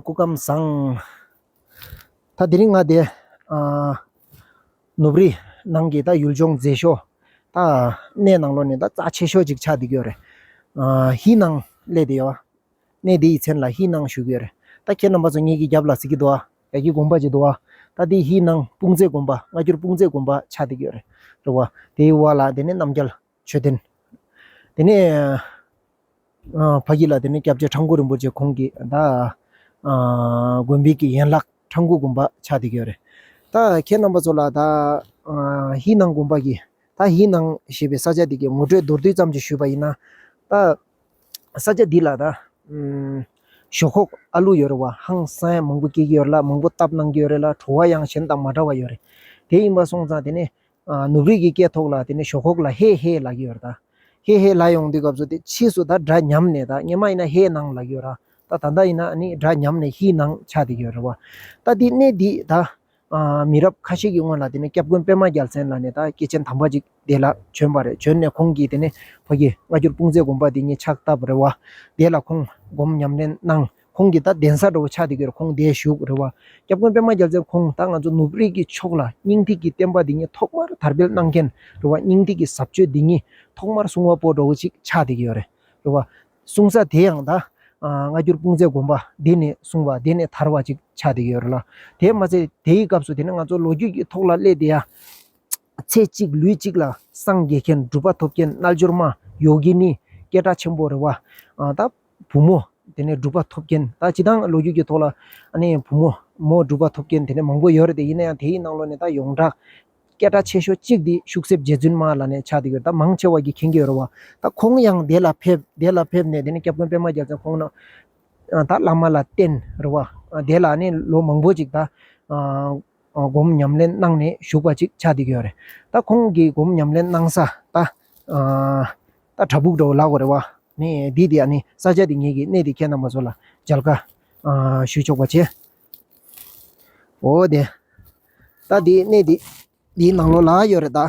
སྐུ་ཁམས་བཟང། ད་དེ་རིང་ང་དེ། ནུབ་རི། ནང་གི་ད་ཡུལ་ལྗོངས་མཛེས་ཤོག། ད། གནས་ནང་ལོག་ནས་ད་རྩ་ཆེ་ཤོག་ཅིག་ཆགས་བསྡད་ཀྱི་ཡོད་རེད། ཧི་ནང། སླད་དེ་ཡོད། གནས་དེ་ཡི་མཚན་ལ་ཧི་ནང་ཞུ་གི་ཡོད་རེད། ད་ཁྱེད་རྣམ་པ་ཚོ་ངེད་ཀྱི་རྒྱབ་ལ་གཟིགས་ཀྱི་འདུག་ཨ། རྒྱ་ཁྱི་དགོན་པ་ཅིག་འདུག་ཨ། ད་དེ་ཧི་ནང་དཔུང་མཛེས་དགོན་པ་སྔ་འགྱུར་དཔུང་མཛེས་དགོན་པ་ཆགས་བསྡད་ཀྱི་ཡོད་རེད། རེད་བ། དེའི་བར་ལ་དེ་ནས་རྣམ་རྒྱལ། མཆོད་རྟེན། དེ་ནས་ཕ་གི་ལ་དེ་ནས་སྐྱབས་རྗེ་ཁྲ་འགུ་རིན་པོ་ཆེ་ཁོང་གི་ད་དགོན་པའི་གི་ཡན་ལག་ཁྲ་འགུ་དགོན་པ་ཆགས་དེ་གི་ཡོད་རེད། ད་ཁྱེད་རྣམ་པ་ཚོ་ལ་ད་ཧི་ནང་དགོན་པ་གི་ད་ཧི་ནང་ཞེས་པའི་ས་ཆ་དེ་གི་ངོ་སྤྲོད་མདོར་བསྡུས་ཙམ་ཅིག་ཞུས་པ་ཡིན་ན། ད་ས་ཆ་འདི་ལ་ད་ཞོག་ཁོག་ཨ་ལུ་ཡོད་རེད་བ་ཧང་སངས་མང་པོ་སྐྱེས་ཀྱི་ཡོད་རེད་ལ་མང་པོ་བཏབ་གནང་གི་ཡོད་རེད་ལ་བྲོ་བ་ཡང་གཞན་དང་མ་འདྲ་བ་ཡོད་རེད། དེ་ཡིན་པ་སོང་ཙང་དེ་ནས་ནུབ་རིས་ཀྱི་སྐད་ཐོག་ལ་དེ་ནས་ཞོག་ཁོག་ལ་ཧེ་ཧེ་ལགས་ཀྱི་ཡོད་ར་ད། ཧེ་ཧེ་ལགས་ཡོང་དུས་སྐབས་སུ་དེ་ཕྱིས་སུ་ད་སྒྲ་ཉམས་ནས་ད་སྔན་མ་ཡིན་ན་ཧེ་ནང་ལགས་ཀྱི་ཡོད་ར་ད་ད་ལྟ་ཡིན་ན་ནི་སྒྲ་ཉམས་ནས་ཧི་ནང་ཆགས་དེ་ཀྱི་ཡོད་ར་བ། ད་དེ་གནས་འདི་ད། མི་རབས་ཁ་ཤས་ཀྱི་སྔོན་ལ་དེ་ནས་སྐྱབས་མགོན་པད་མ་རྒྱལ་མཚན་ལ་ནས་ད་སྐྱེས་ཆེན་དམ་པ་ཅིག་དེ་ལ་བྱོན་པ་རེད་བྱོན་ནས་ཁོང་གིས་དེ་ནས་ཕ་གིས་སྔ་འགྱུར་དཔུང་མཛད་དགོངས་པ་དེ་ཉིད་ཕྱག་བཏབ་རེད་བ། དེ་ལ་ཁོང་སྒོམ་ཉམས་ལེན་གནང། ཁོང་གིས་ད་གདན་ས་འགྲོ་བའི་ཆ་དེ་གར་ཁོང་འདས་བཞུགས་རེད་བ། སྐྱབས་མགོན་པད་མ་རྒྱལ་མཚན་ཁོང་ད་ང་ཚོ་ནུབ་རིགས་ཀྱི་ཕྱོགས་ལ་སྙིང་ཐིག་གི་བསྟན་པ་འདི་ཉིད་ཐོག་མར་དར་སྤེལ་གནང་མཁན་རེད་བ་སྙིང་ཐིག་གི་ཟབ་ཆོས་འདི་ཉིད་ཐོག་མར་གསུང་བ་པོ་འགྲོ་བ་ཅིག་ཆགས་བསྡད་ཀྱི་ཡོད་རེད་བ། གསུང་ས་དེ་ཡང་ད་སྔ་འགྱུར་སྤུངས་ཚད་དགོན་པ་འདི་ནས་གསུང་བ་འདི་ནས་དར་བ་ཅིག་ཆགས་བསྡད་ཀྱི་ཡོད་རེད་ལ། དེ་མ་ཚད་དེའི་སྐབས་སུ་དེ་ནས་ང་ཚོ་ལོ་རྒྱུས་ཀྱི་ཐོག་ལ་སླེབས་བསྡད་ཡ། ཚེ་གཅིག་ལུས་གཅིག་ལ་སངས་རྒྱས་མཁན་སྒྲུབ་པ་ཐོབ་མཁན་རྣལ་འབྱོར་མ་ཡོ་གི་ནི་སྐད་གྲགས་ཆེན་པོ་རེད་བ། ད། བུ་མོ། དེ་ནས་སྒྲུབ་པ་ཐོབ་མཁན་ད་སྤྱི་དང་ལོ་རྒྱུས་ཀྱི་ཐོག་ལ། བུ་མོ། མོ་སྒྲུབ་པ་ཐོབ་མཁན་དེ་ནས་མང་པོ་ཡོད་རེད་དེ་ཡིན་ན་ཡང་དེའི་ནང་ལོ་ནས་ད་ཡོངས་གྲགས། སྐད་གྲགས་ཆེ་ཤོས་གཅིག་དེ་ཤུག་གསེབ་རྗེ་བཙུན་མ་ལ་ནས་ཆགས་འདུག་གྱུར་ད་མང་ཆེ་བ་གྱི་མཁྱེན་གྱི་ཡོད་རེད་བ། ད་ཁོང་ཡང་བདེ་ལ་ཕེབས་བདེ་ལ་ཕེབས་ནས་དེ་ནས་སྐྱབས་མགོན་པད་མ་རྒྱལ་མཚན་ཁོང་ན། ད་བླ་མ་ལ་བསྟེན་རེད་བ། དེ་ལ་ནས་ལོ་མང་པོ་ཅིག་ད། སྒོམ་ཉམས་ལེན་གནང་ནས་བཞུགས་པ་ཅིག་ཆགས་བསྡད་ཀྱི་ཡོད་རེད། ད་ཁོང་གིས་སྒོམ་ཉམས་ལེན་གནང་ས་ད་གྲྭ་ཕུག་འགྲོ་ལགས་རེད་བ། འདི་དེ་ཡང་ནི་ས་ཆ་དེ་ངེད་ཀྱིས་གནས་དེ་ཁྱེད་རྣམས་པ་ཚོ་ལ་མཇལ་ཁ་ཞུ་ཆོག་པ་བྱས། འོ་དེ་ད་དེ་གནས་དེ་འདིའི་ནང་ལོགས་ལ་ཡོད་རེད་ད།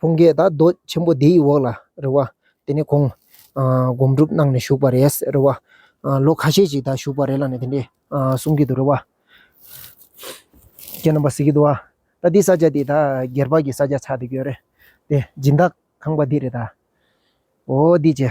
བུང་བརྒྱད་དང་རྡོ་ཆེན་པོ་དེའི་འོག་ལ་རེ་བ། དེ་ནས་ཁོང། སྒོམ་སྒྲུབ་གནང་ནས་བཞུགས་པ་རེད་ཟེར་རེ་བ། ལོ་ཁ་ཤས་ཤིག་ད་བཞུགས་པ་རེད་ལ་ནི་དེ་འདྲས་གསུང་གི་འདུག་རེ་བ། ཁྱེད་རྣམ་པ་གཟིགས་གི་འདུག་ཨ། ད་འདི་ས་སྐྱ་དེ་ད་སྒེར་བག་གི་ས་སྐྱ་ཆགས་འདུག་གྱོ་རེད། དེ་སྦྱིན་བདག་ཁང་པ་འདི་རེད་ད། འོ་འདི་ཅི།